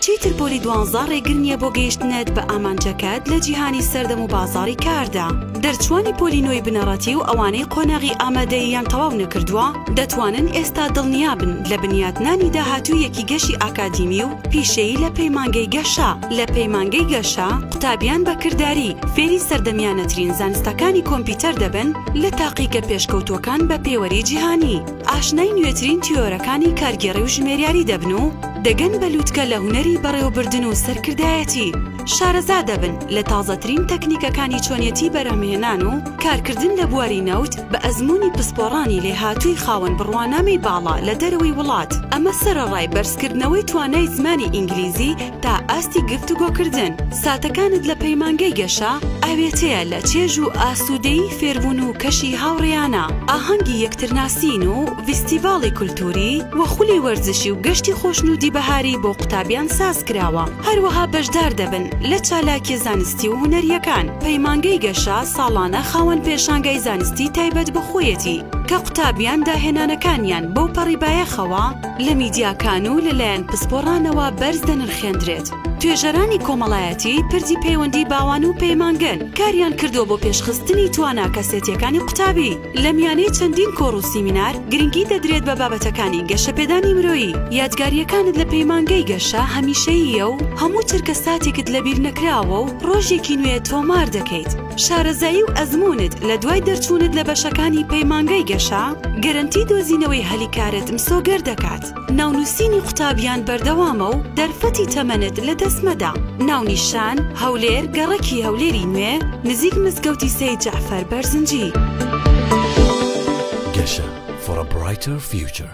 چیتر پۆلی دوانزە ڕێگر نیە بۆ گەیشتنت بە ئامانجەکەت لە جیهانی سەردەم و بازاڕی کاردا. دەرچووانی پۆلی نۆی بنەڕەتی و ئەوانەی قۆناغی ئامادەییان تەواو نەکردووە، دەتوانن ئێستا دڵنیابن لە بنیاتنانی داهاتوویەکی گەشی ئاکادیمی و پیشەیی لە پەیمانگەی گەشە. لە پەیمانگەی گەشە، قوتابیان بە کرداری فێری سەردەمیانەترین زانستەکانی کۆمپیوتەر دەبن لە تاقیگە پێشکەوتووەکان بە پێوەری جیهانی. ئاشنای نوێترین تیۆرەکانی کارگێڕی و ژمێریاری دەبن و دەگەن بە لووتکە لە هونەری بەڕێوەبردن و سەرکردایەتی، شارەزا دەبن لە تازەترین تەکنیکەکانی چۆنیەتی بەرهەمهێنان و کارکردن لە بواری نەوت بە ئەزموونی پسپۆڕانی لێهاتووی خاوەن بڕوانامەی باڵا لە دەرەوەی وڵات، ئەمە سەرەڕای بەرزکردنەوەی توانای زمانی ئینگلیزی، تا ئاستی گفتوگۆکردن، ساتەکانت لە پەیمانگەی گەشە ئاوێتەیە لە چێژ و ئاسوودەیی فێربوون و کەشی هاوڕێیانە، ئاهەنگی یەکترناسین و ڤیستیڤاڵی کولتووری و خولی وەرزشی و گەشتی خۆشنوودی بەهاری بۆ قوتابیان سازکراوە، هەروەها بەشدار دەبن لە چالاکیە زانستی و هونەرییەکان، پەیمانگەی گەشە ساڵانە خاوەن پێشانگای زانستی تایبەت بە خۆیەتی کە قوتابیان داهێنانەکانیان بەوپەڕی بایەخەوە، لە میدیاکان و لەلایەن پسپۆڕانەوە بەرز دەنرخێندرێت. توێژەرانی کۆمەڵایەتی پردی پەیوەندی باوان و پەیمانگەن کاریان کردووە بۆ پێشخستنی توانا کەسێتیەکانی قوتابی. لە میانەی چەندین کۆڕ و سیمینار گرنگی دەدرێت بە بابەتەکانی گەشەپێدانی مرۆیی. یادگارییەکانت لە پەیمانگەی گەشە هەمیشەییە و هەموو چرکە ساتێکت لەبیرنەکراوە و ڕۆژێکی نوێ تۆمار دەکەیت. شارەزایی و ئەزموونت لە دوای دەرچوونت لە بەشەکانی پەیمانگەی گەشە، گەرەنتی دۆزینەوەی هەلی کارت مسۆگەر دەکات. ناونووسینی قوتابیان بەردەوامە و دەرفەتی تەمەنت لەدەست مەدە. ناونیشان، هەولێر، گەڕەکی هەولێری نوێ، نزیک مزگەوتی سەید جەعفەر بەرزنجی. گەشە for a brighter future.